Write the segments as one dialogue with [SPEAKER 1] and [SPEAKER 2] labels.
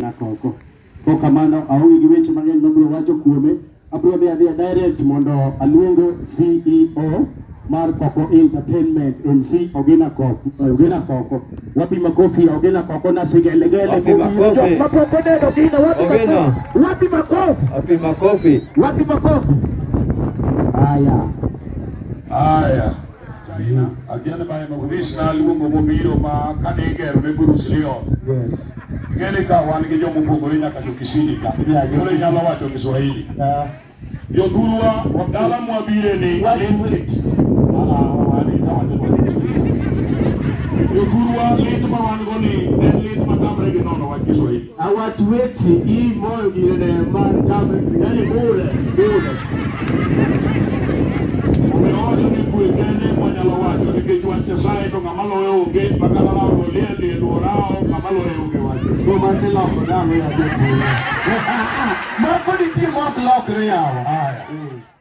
[SPEAKER 1] nyaka oko. Kok kamano aonge gi weche mang'eny mabiro wacho kuome, abiro dhi adhiya direct mondo aluongo CEO mar Koko Entertainment MC Ogina Koko. Ogina Koko. Wapi makofi ya Ogina Koko na sigelegele. Wapi makofi? Makofi ndio Ogina
[SPEAKER 2] wapi Ogina.
[SPEAKER 1] makofi? Wapi
[SPEAKER 2] makofi? Wapi makofi?
[SPEAKER 1] Wapi makofi?
[SPEAKER 3] Haya. Haya. Unis na luongo mobiro ma kane igero ne Bruce Leon. Yes.
[SPEAKER 1] Ng'eni ka wan
[SPEAKER 3] gi joma opogore nyaka jo Kisini ka. Koro inyalo wacho Kiswahili. Ah. Jo Thurwa dala mwabire ni. Wait, wait. Jo Thurwa lit ma wan go ni en lit ma tamre gi nono wach Kiswahili. Awatweti
[SPEAKER 1] i moyo gine mar tabe yani bure bure.
[SPEAKER 3] Omeocho ni kwe kende mwanyalo wacho nikech wach Nyasaye to ng'ama loye onge makata lawo olie lie luorao ng'ama loye onge wacho. Go ma se loko
[SPEAKER 1] dalo ya jepuro. Mako ni ti mok lokre yawo. Haya.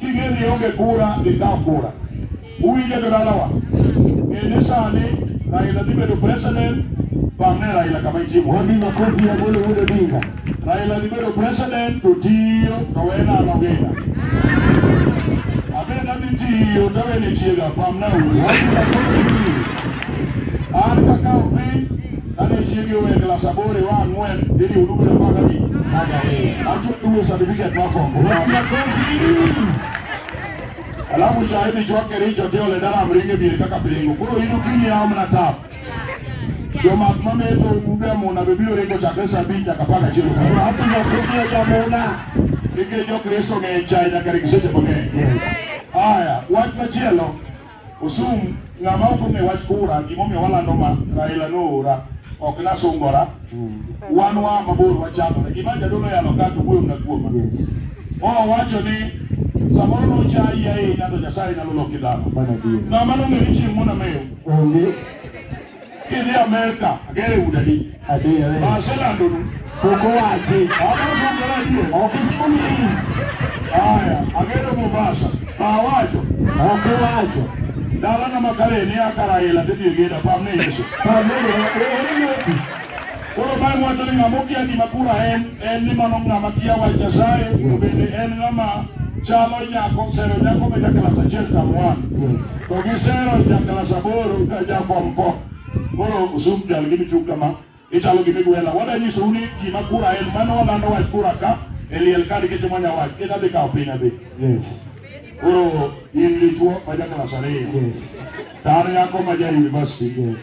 [SPEAKER 3] Kigeni onge kura gikaw kura. Uwinjo jodalawa? Ng'e ni sani Raila dhi bedo president bang'e Raila kama ichimo. Wapi makofi ya Amolo
[SPEAKER 1] Wuod Odinga? Raila dhi bedo
[SPEAKER 3] president to tiyo to wena anogenda. Abena dhi tiyo to wene chiega pamna uru. Wapi makofi? An kaka opiny Kane chiege owe klas aboro iwa ang'wen idhi udu bedo apar gabich. Acho tuwe certificate mar form four. Alafu cha idhi chwa Kericho ti ole dala mringe bier kaka piringo. Koro in okinyi yawo mana tap. Jomak mametho udu e muna be biro ringo chakre saa abich nyaka apar gachiel okinyi. Hapo ndio kuja
[SPEAKER 1] jamuna. Nikech
[SPEAKER 3] Jokristo ng'eny chai nyaka ring seche mang'eny. Haya, wach machielo Osum ng'ama ok ong'e wach kura gimomiyo walando ma Raila noora ok nasungora wan wa mabor wachandore gima jadolo yalo ka to wuoyo na kuoma owacho ni samoro nochayi ahinya to Nyasaye nyalo loki dhano ng'ama nong'e ni chieng' monameyo onge Kidhi Amerika, agere udani. Adiyo. Masela
[SPEAKER 1] ndonu.
[SPEAKER 3] Koko wachi.
[SPEAKER 1] Ama sungara diye.
[SPEAKER 3] Okismuni hii.
[SPEAKER 1] Aya,
[SPEAKER 3] agere Mombasa. Mawacho. Oko
[SPEAKER 1] wacho. Dala na
[SPEAKER 3] makare ni akara ila tedi yegeda pamne Yesu. Pamne
[SPEAKER 1] Yesu.
[SPEAKER 3] Koro bang' wacho ni ng'ama okia gima kura en en ni mano ng'ama kia wach Nyasaye bende en ng'ama chalo nyako sero nyako ma ja klas achiel tam wan to gi sero ja klas aboro ka ja fom fom koro usum jal gi michung kama ichalo gi migwela wadanyiso uni gima kura en mano walando wach kura ka e liel kadi kitimo nya wach kita dhi kawo piny adhi yes koro in dichuo ma ja klas ariyo yes tar nyako ma ja university yes